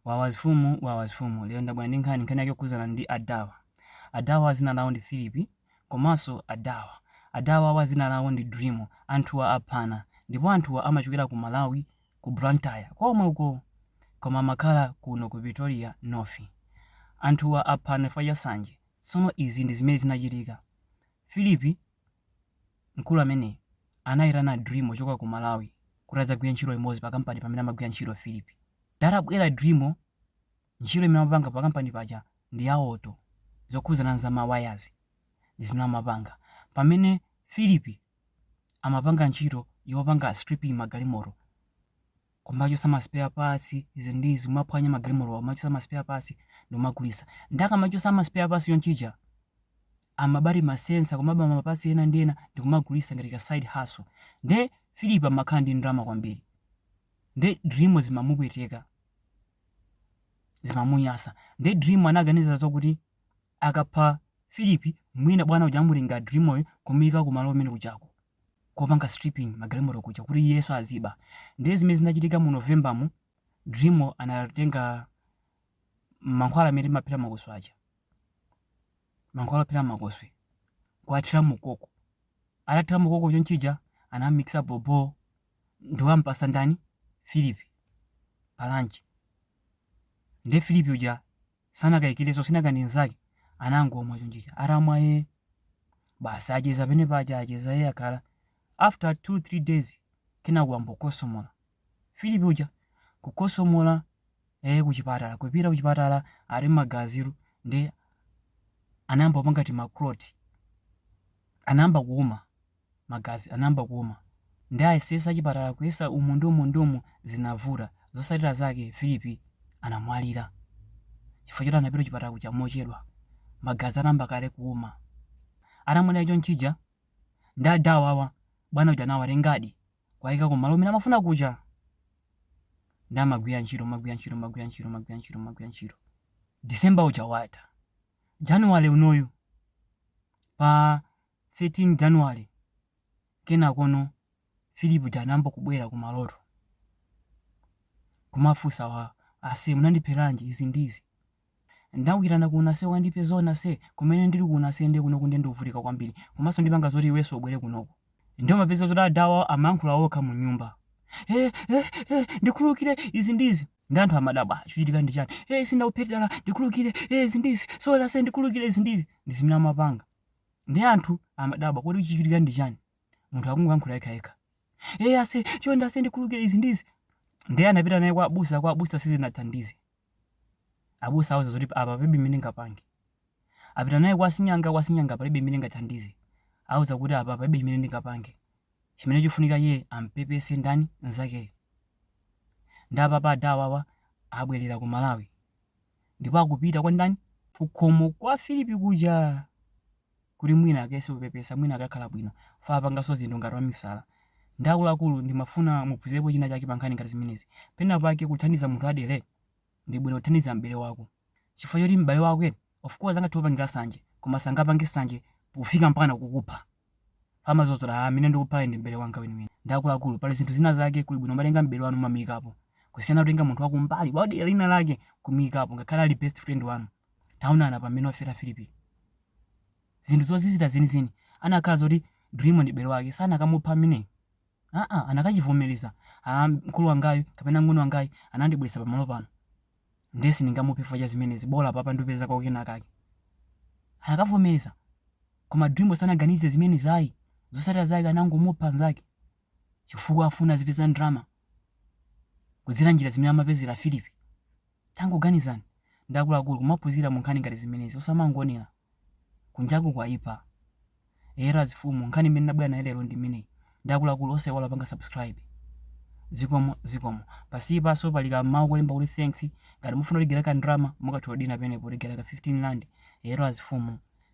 Wawa zifumu wawa zifumu lero ndabwera ndi nkhani nkhani yake yokhudzana ndi adawa adawa dzina lawo ndi Philipi komanso adawa adawa awa dzina lawo ndi Drimo anthuwa aphana ndipo anthuwa amachokera ku Malawi ku Blantyre komwe uko koma amakhala kuno ku Pretoria North anthuwa aphana chifukwa cha sanje tsono izi ndi zimene zinachitika Philipi Mkulu ameneyu anaitana Drimo kuchoka ku Malawi kuti adzagwire ntchito limodzi pa kampani pamene amagwira ntchito Philip. Nde atabwera Drimo ntchito imene amapanga pa kampani paja ndi ya auto zokhudzana nza ma wires ndi zimene amapanga. Pamene Philip amapanga ntchito yopanga stripping magalimoto. kumachotsa ma spare parts izi ndi izi kumaphwanya magalimoto kumachotsa ma spare parts ndikumagulitsa nde akamachotsa ma spare parts chonchija amaba tima sensor kumaba ma parts ena ndi ena ndikumagulitsa ngati ka side hustle nde Philip amakhala ndi ndalama kwambiri nde dream zimamupweteka zimamunyasa nde dream anaganiza zokuti akapha Philip mwina bwana uja amutenga dreamoyo kumuyika kumalo kumene kujako kopanga stripping magalimoto kuja kuti iyenso aziba ndiye zimene zinachitika mu november mu dreamo anatenga mankhwala amene timaphera makoswe aja mankhwala ophera makoswe kuathira mukoko atathira mukoko chonchija anamikisa bhobho nde wampatsa ndani philip pa lunch ndiye philip uja sanakayikilenso sinanga ni nzake anangomwa chonchija atamwa ee basi acheza pene paja acheza ee akhala after 2 3 days kenako wayamba kukhosomola Philip uja kukhosomola ee kuchipatala kupita kuchipatala ali magazitu nde anayamba kupanga tima clot anayamba kuuma magazi anayamba kuuma nde ayesetsa achipatala kuyesa umu ndi umu ndi umu zinavuta zotsatira zake Philip anamwalira chifukwa choti anapita kuchipatala kuja mochedwa magazi anayamba kale kuuma atamwalira chonchija nde adawawa bwana uja anawatengadi kuwayika kumalo kumene amafuna kuja nde amagwira ntchito magwira ntchito magwira ntchito magwira ntchito magwira ntchito December uja watha January unoyu pa 13 January, Kenakono Philip uja anayamba kubwera ku maloto kumafunsa wa ase munandipheranji izi ndi izi ndakuyitana kuno ase wandipha zoona ase kumene ndili kuno ase nde kunoku nde ndikuvutika kwambiri komanso ndipanga zoti iwenso ubwere kunoko nde umapeza zoti adawa amayankhula okha mu nyumba eh, eh, eh, ndikhululukire izi ndi izi nde anthu amadabwa chochitika ndi chani eh, sindakuphetera ndikhululukire eh, izi ndi izi sorry ase ndikhululukire izi ndi izi ndi zimene amapanga Ndiye anthu amadabwa kodi chikuchitika ndi chani? Munthu akungoyankhula yekha yekha. Eh ase, chonde ase ndikhululukire izi ndi izi. Ndiye anapita naye kwa abusa, kwa abusa sizinathandize. Abusa auza zoti apa palibe mmene ngapange. Apita naye kwa sing'anga, kwa sing'anga palibe mmene ngathandize. Auza kuti apa palibe chimene ndingapange. Chimene chofunika iye ampepese ndani nzakeyo. Ndi apapa adawawa abwerera ku Malawi. ndipo akupita kwa ndani? Kukhomo kwa Filipi kuja kuti mwina akayese kupepesa, mwina akakhala bwino, fa apanganso zinthu ngati wamisala. Ndi akuluakulu ndimafuna muphunzirepo china chake pa nkhani ngati zimenezi. Pena pake kuthandiza munthu adere ndi bwino kuthandiza m'bale wako. Chifukwa choti m'bale wako, of course angathe kukupangira sanje, koma sangapange sanje pofika mpaka kukupha. fa amazaona ah, amene ndikuphayi ndi m'bale wanga weniweni ndi akuluakulu pali zinthu zina zake kuli bwino umatenga m'bale wanu umamuyikapo kusiyana kutenga munthu wakumbali wadera lina lake kumuyikapo ngakhale ali best friend wanu taonana pamene wafera filipi zinthu zozizira zenizeni anakhala zoti dream ndi m'bale wake sanakamupha amene aa anakachivomereza ah, mkulu wangayu kapena mng'ono wangayu anandibweretsa pamalo pano Ndiye sindingamuphe chifukwa cha zimenezi, bola apapa ndupezako kenakake. Anakavomereza. Koma Dream-yo sanaganize zimenezi ayi. Zotsatira zake anangomupha mnzake chifukwa afuna azipeza ndalama kudzera njira zimene amapezera Philip. Tangoganizani ndi akuluakulu kumaphunzira munkhani ngati zimenezi osamangoonera. Kunjaku kwaipa. Eyetu azifumu nkhani imene ndabwera nayo lero ndi imeneyi. Ndi akuluakulu osaiwala kupanga subscribe. Zikomo zikomo. Pansipanso pali kamau kolemba kuti thanks. Ngati mufuna kutigayira kandalama mukatha kudina penepo kutigayira ka 15 rand. Eyetu azifumu.